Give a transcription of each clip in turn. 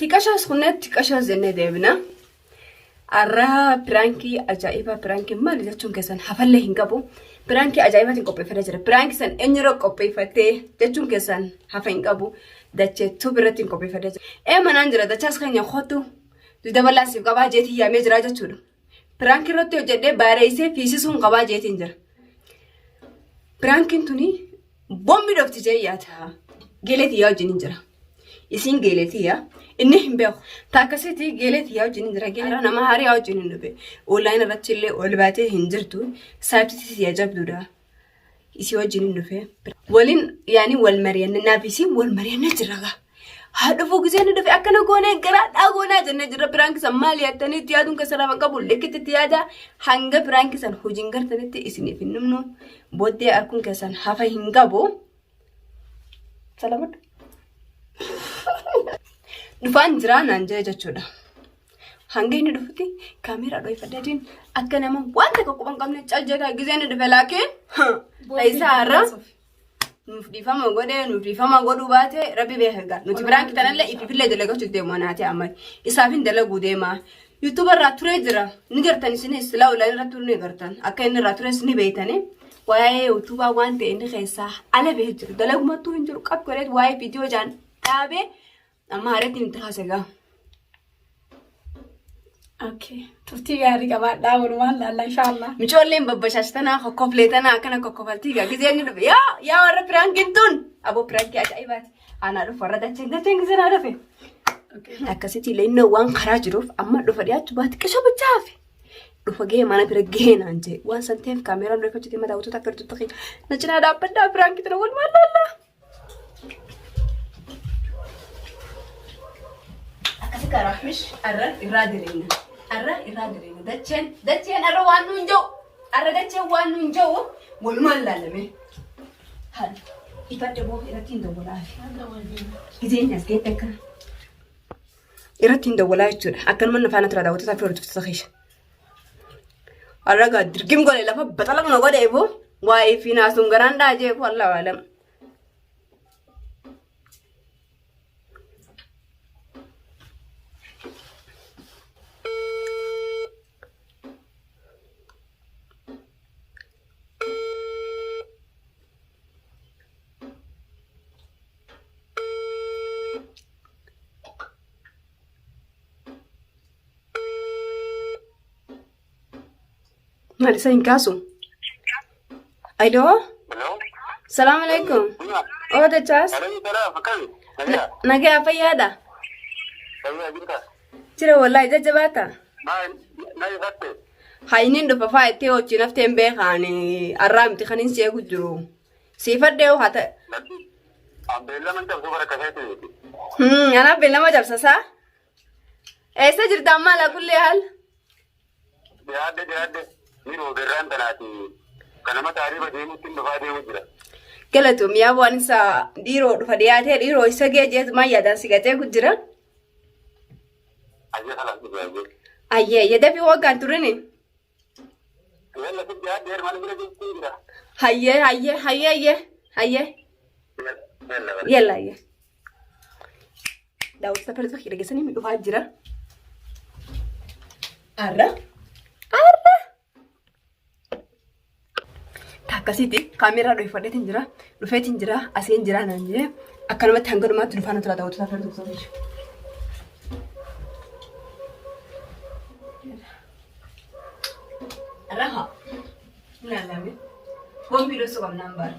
Xiqashoos kunneen xiqashoos jennee deebina. Arraa piraankii ajaa'ibaa piraankii maali jechuun keessan hafallee hin qabu. Piraankii ajaa'ibaatiin qopheeffatee jira. Piraankii san eenyurra qopheeffatee jechuun keessan hafa hin qabu. Dachee tuubi irratti hin qopheeffatee jira. Ee manaan jira dachaas keenya kootu dabalaa siif qabaa jeetii yaamee jira jechuudha. Piraank irratti hojjedhee baareessee fiisisuun qabaa jeetiin jira. Piraankiin tuni bombi dhofti jee yaada. Geeleetii yaa wajjin hin jira. Isiin geeleetii yaa inni hin beeku. Taakkasiitii geeleetii yaa wajjin hin jira. Geeleetii nama haarii yaa wajjin hin dhufe. Online irratti illee ol baatee hin jirtu. Saabsitii yaa jabduudha. Isii wajjin hin dhufee. Waliin yaani wal mari'anne naaf isiin wal mari'anne jirra gaa. Haa dhufuu gisee inni dhufe akkana goonee garaa dhaa goonaa jennee jirra piraanki san maal yaattanii itti yaaduun keessa lafa hin qabu likkitti itti yaadaa hanga piraanki san hojiin gartanitti isiniif hin dhumnu booddee arkuun keessan hafa hin qabu. Salamat. Dhufaan jiraa naan jira jechuudha. Hanga inni dhufutti kaameeraa dhoofadhee deemu akka nama waan takka quban qabne caljeeta gisee inni dhufe laakiin ta'isaa irra nuuf dhiifama godhee nuuf dhiifama godhuu baatee rabbi beeka egaa nuti biraan kitanallee ifiifillee dalagachuuf deemu anaatee amma isaafin dalaguu deemaa YouTube irraa turee jira. Ni gartan isinis silaa online irratti turuu ni gartan. Akka inni irraa tures ni beeytani. Waa'ee YouTube waan ta'e inni keessaa ala bahee jiru. Dalagumattuu hin jiru qab godheet waa'ee viidiyoo jaan dhaabee amma haareetiin itti haasa gaa. Okay. Turtii gaarii qabaadhaa walumaan laalla inshaallah. Micoolleen babbashaashtanaa kokkofleetanaa akkana kokkofaltii gaa gizee inni dhufe. Yaa yaa warra piraankiin tun aboo piraankii ajaa'ibaati. Anaa dhufu warra dacheen dacheen gisee naa dhufe. Akkasitti illee inni waan karaa jiruuf amma dhufa dhiyaachuu baate qisoo bichaa hafe. Dhufa gahee mana bira gahee naan jee waan san ta'eef kaameeraan reeffa jitee mataa utuuta akka jirtu ta'e na cinaa dhaabbadhaa biraan kitira wal maal laallaa. Akkasi karaa mish arra irraa jireenya arra irraa jireenya dacheen dacheen arra waan nuun ja'u arra dacheen waan nuun ja'u wal maal laallamee. Haadha. Ifadde boo irratti hin dawwalaafi. Gizeen as geette akkana. Irratti hin dawwalaa jechuudha. Akkanuma na faana tura daawwattoota fi hordoftoota keessa. Arragaa dirgim godhe lafa baxala mana godhe boo waa'ee fi naasuun garaan dhaajee boo allaa waalam. Maal isa hin kaasu? Hello. Salaam alaikum. Oo dachaas. Nagaa fayyaadha. Jira wallahi jajjabaata. Haa inni dhufa faa itti hojii naftee hin beekaan arraa miti kan hin seegu jiru. Siifadhee hoo haa ta'e. Anaaf beellama cabsasaa. Eessa jirta ammaa laa kullee haal? Dhiyaadde dhiyaadde ni roobe irraan tanaati. Kana mata ariiba deemutti hin dhufaa deemu jira. Galatoom yaa waan isa dhiiroo dhufa dhiyaatee dhiiroo isa gee jeetu maa yaadaan si gatee kun jira. Ayyee kalaan dhufe ayyee. Ayyee yadafi waggaan turini. Yalla si dhiyaadde hermaan bira jirti jira. Hayyee hayyee hayyee hayyee hayyee Yalla bara. yalla hayyee. daawwattoota pirootii kee dhageessanii ni dhufaa jira. Arra. Arra. Akkasitti kaameeraa dhoofadheetiin jira. Dhufeetiin jira. Asiin jira naan jedhee akkanumatti hanga dhumaatti dhufaa nuti daawwattoota pirootii. Raha. Naalame. Boombii dhoosuu qabnaan baara.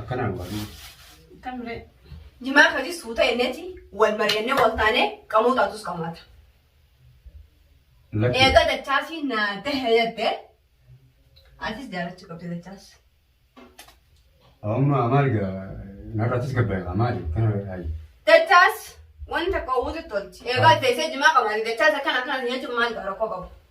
Akkanaan barnoo. Kan ree. Jimaa kaji suuta enneeti wal mari'annee wal taanee qamoo taatus qamaata. Lakki. Eega dachaasii naa dahe jette atis jaalachuu qabdi dachaas. Amma maal gaa narrattis gabbaa'e maali kana ayi. Dachaas wanta qawwuutu tolchi. Eegaa teessee jimaa qabaate dachaas akkana akkana jechuun maal gaara koo qabu.